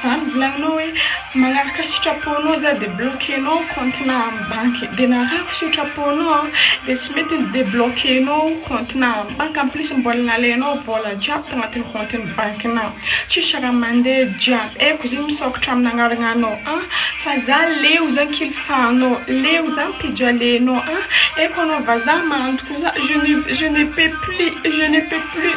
Zany volagninao hoe magnaraka sitrapo nao za de bloquenao ny compte nao amin'ny banky de narahako sitrapo nao de tsy mety ny debloquenao compte nao amin'ny banky en plus mbola nalainao vola jiaby tanatin'ny compte ny banky nao tsisy raha mande dra eko zay misaokatra amin'ny agnaragnanao an fa za leo zany kilifanao leo zany pijalenao an eko anao vazaha mahandro koa za je ne peux plus je ne peux plus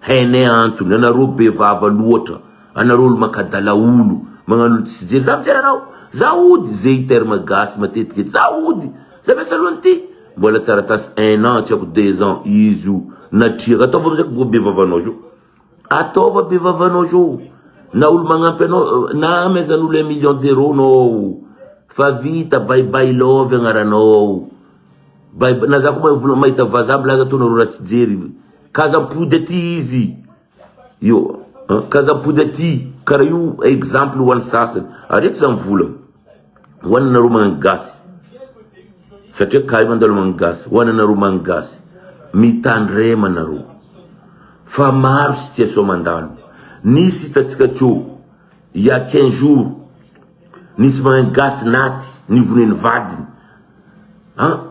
Hainay antony, anareo be vava loatra, anareo olo makadala olo, magnano olo tsisy jery, za mijery anao, za ody, ze terme gasy matetika eto, za ody, za be salon ty, mbola taratasy un an tsy ako deux ans, izy io, natriaka, ataovy amizay ko be vavanao zao, ataova be vavanao zao, na olo magnampy anao, na amezan olo un million d'euro nao, fa vita, bye bye love agnaranao, bye bye, na za ko mahita vaza milaza to nareo raha tsy jery. Ka aza mipody aty izy io an! Ka aza mipody aty! Karaha io exemple ho an'ny sasany. Areto zany vola ho anareo magnano gasy satria ka io mandalo magnano gasy. Ho anareo magnano gasy. Mitandrema nareo fa maro situation mandalo. Nisy hitantsika teo il y'a quinze jours nisy magnano gasy naty nivonoy ny vadiny an!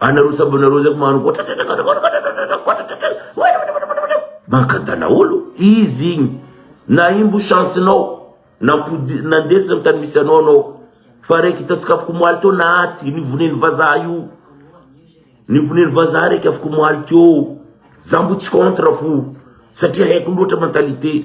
Anareo sambo nareo zay mano mankantana olo izy igny na imbo chance nao nampodi nandesina am tany misy anao anao fa raiky hitantsika afaka omaly teo naty nivoneny vazaha io nivoneny vazaha raiky afaka omaly teo za mbo tsy contre fo satria haiko loatra mentalité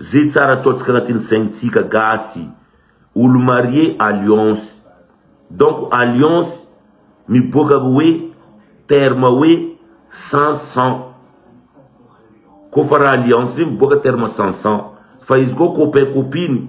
Ze tsara ataontsika anatin'ny saintsika gasy olo marie alliance donc alliance miboaka avy hoe terme hoe sans sang ko fa raha alliance zay miboaka terme sans sang fa izy koa copain copine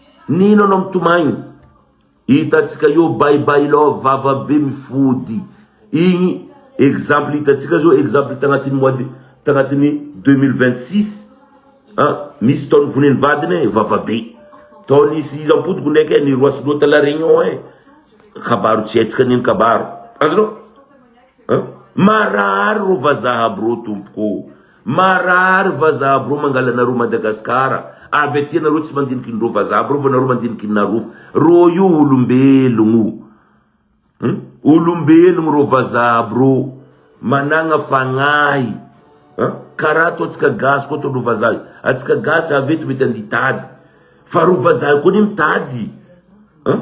Nino anao mitomagny hitatsika eo bye bye love vava be mifody igny exemple hitatsika zao exemple tagnatiny mois de tagnatiny deux mille vingt six an misy tao nivoniny vadiny e vava be tao nisy izy ampodiko ndraiky e niroasy loha ta la reunion e kabaro tsy haitsika nino kabaro azonao an marary ro vazaha aby ro tompoko ô. Marary vazaha brô mangalanareo Madagascar avy aty anareo tsy mandinikinreo vazaha brô vao nareo mandinikinarov rô io olombelogno hum olombelogno rô vazaha brô managna fagnahy hum karaha atao tsika gasy koa ataondreo vazaha atsika gasy avy eto mety andia tady fa reo vazaha koa anie mitady hum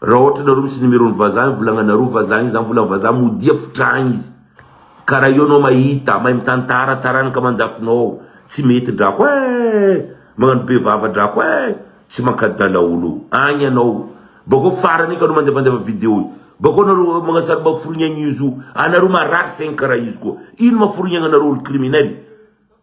Raha ohatra nareo misy numéro ny vazaha ny volagnanareo vazaha igny zany volan'ny vazaha modia fitragny izy ka raha eo anao mahita mahay mitantara taranaka amanjafinao tsy mety drako eh magnano be vava drako eh tsy mankadala olo agny ianao bakeo farany igny ka anao mandefandefa video io bakeo nareo magnasary mba forignaigny izy io anareo marary saigny karaha izy koa ino maha forignaigny anareo olo criminel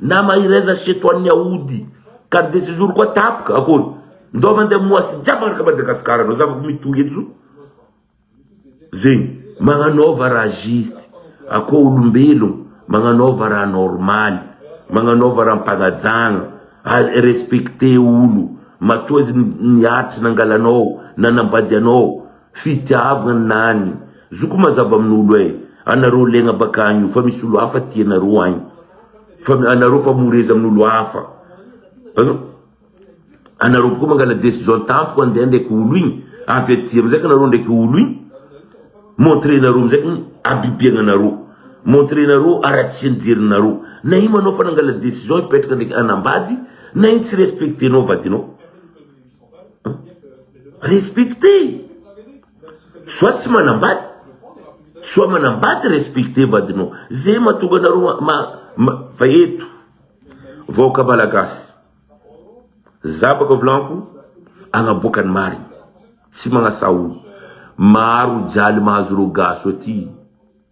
Na mahereza chez toi ny aody. Carte de sejour koa tapoka, akory. Ndao mandeha moasy jiaby araka Madagascar anao, zavako mitohy eto zao. Zegny, magnanaova raha juste, akoa olombelogno, magnanaova raha normaly, magnanaova raha mpagnajagna, ary respecter olo, matoa izy niaritry nangalanao, nanambady anao, Fitiavana any. Zoko mazava amin'olo eh. Anareo legna bakagny io fa misy olo hafa tia anareo agny fa anareo fa moreza amin'olo hafa an. Anareo boko mangala decision tampoka andeha ndraiky olo igny avy aty amizay ka anareo ndraiky olo igny montre nareo amizay kny abibiagna anareo montre nareo aratsiagny jerinareo na igny manao fa nangala decision hipetraka ndraiky anambady na igny tsy respectenao vadinao Respecter! Soa tsy manambady, soa manambady respecter vadinao, zay mahatonga anareo fa eto vahoaka malagasy, zabaka volako anaboaka ny marina, tsy manasa olona, maro jaly mahazo reo gasy aty.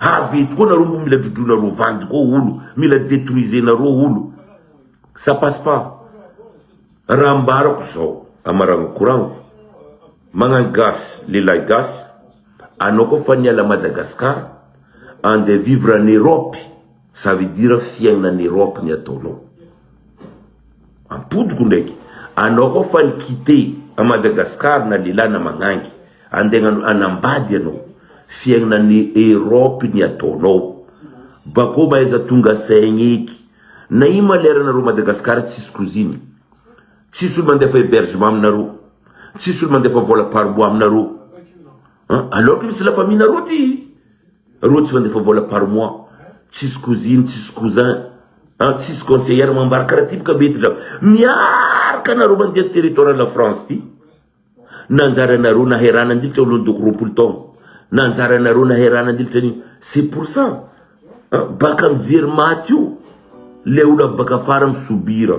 Avy tokoa nareo mbo mila drodroinareo vandy koa olo mila detruisenareo olo ça passe pas raha ambarako zao amaragno koragno magnano gasy lehilahy gasy anao koa fa niala Madagascar andeha vivre any Europe Ça veut dire fiainan'i Europe ny ataonao. Ampodiko ndraiky, anao koa fa ni quitte à Madagascar na lehilahy na magnangy, andeha hanambady ianao, fiainan'i Europe ny ataonao. Bakeo mahaiza tonga saigny eky. Na ino ma lera nareo Madagascar tsisy cousine. Tsisy olo mandefa hebergement aminareo. Tsisy olo mandefa vola par mois aminareo. An, alors que misy la famille nareo aty roa tsy mandefa vola par mois, tsisy cousine, tsisy cousin, an, tsisy conseillère mambara karaha ty boka mety ndra miarka nareo mandeha ny territoire la France ty, nanjary anareo naherana ndilitra olon doko roapolo taona, nanjary anareo naherana ndilitra anio, c'est pour ça an, baka mijery maty io le olo avy baka afara mi subir.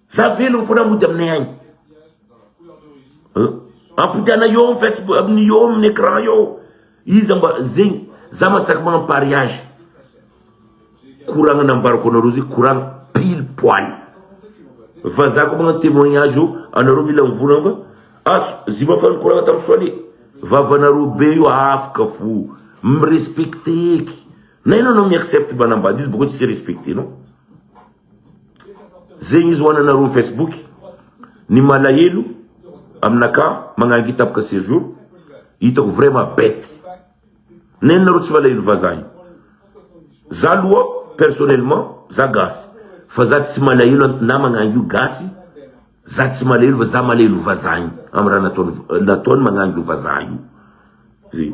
Za velogno fona mody aminay agny. Ampodiana eo amin'ny Facebook amin'ny eo amin'ny écran eo. Iza mba zegny za masaky magnano pariage. Koragna nambarako anareo zegny koragna pile poil. Fa za ko magnano témoignage io anareo mila mivonagna fa aso zima fa nikoragna tamin'ny soale. Vavanareo be io afaka fo. Mirespecte eky. Na enao anao mi-accepte manambady izy bakeo tsy respecte-nao. Zegny izy ho ananareo facebook ny malahelo aminakà magnangitapaka sejour hitako vraiment bête nenina nareo tsy malahelo vazaha io za loha personnellement za gasy fa za tsy malahelo na magnangy io gasy za tsy malahelo fa za malahelo vazaha io amin'ny raha nataony nataony magnangy io vazaha io zay.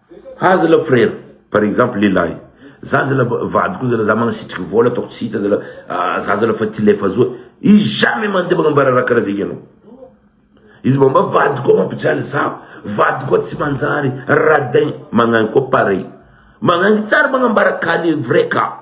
Ha zala frère par exemple lehilahy za zala vadiko zala za magnasitriky vôla ataoko tsy hita zala za zala fa ty lefa azoa izy jamais mandeha magnambara raha kara zegny anao izy mbô mba vadiko koa mampijaly za vadiko koa tsy manjary radin magnagny koa pareil magnagny tsara magnambara ka le vrai ka.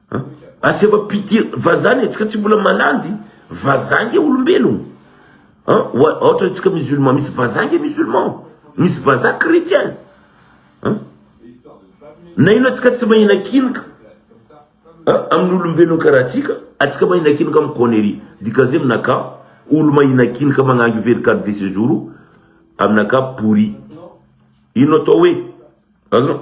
An, asio va pitié vazaha anie, tsika tsy mbola malandy, vazaha nge olombelogno an, ohatra antsika musulman misy vazaha nge musulman, misy vazaha chretien an, na ino atsika tsy mahina kiny ka an, amin'ny olombelogno karaha tsika, atsika mahina kiny ka amin'ny connerie, dikazay aminaka olo mahina kiny ka magnangy very carte de séjour o, aminaka pourri, ino atao hoe azon.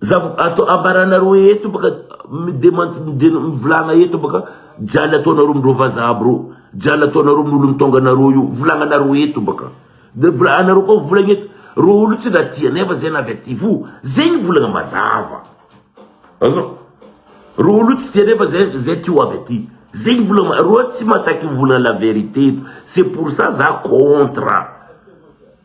Zava atao ambaranareo eto baka midemant mivolagna eto baka jaly ataonareo amin'ireo vazaha aby reo jaly ataonareo amin'ny olon-taonga anareo io volagnanareo eto baka de vola anareo koa volagna eto reo olo tsy raha tia nefa zay na avy aty fo zegny volagna mazava azoo reo olo tsy tia nefa zay zay ty ho avy aty zegny volagna reo tsy masaky mivolagna la vérité eto c'est pour ça za contre.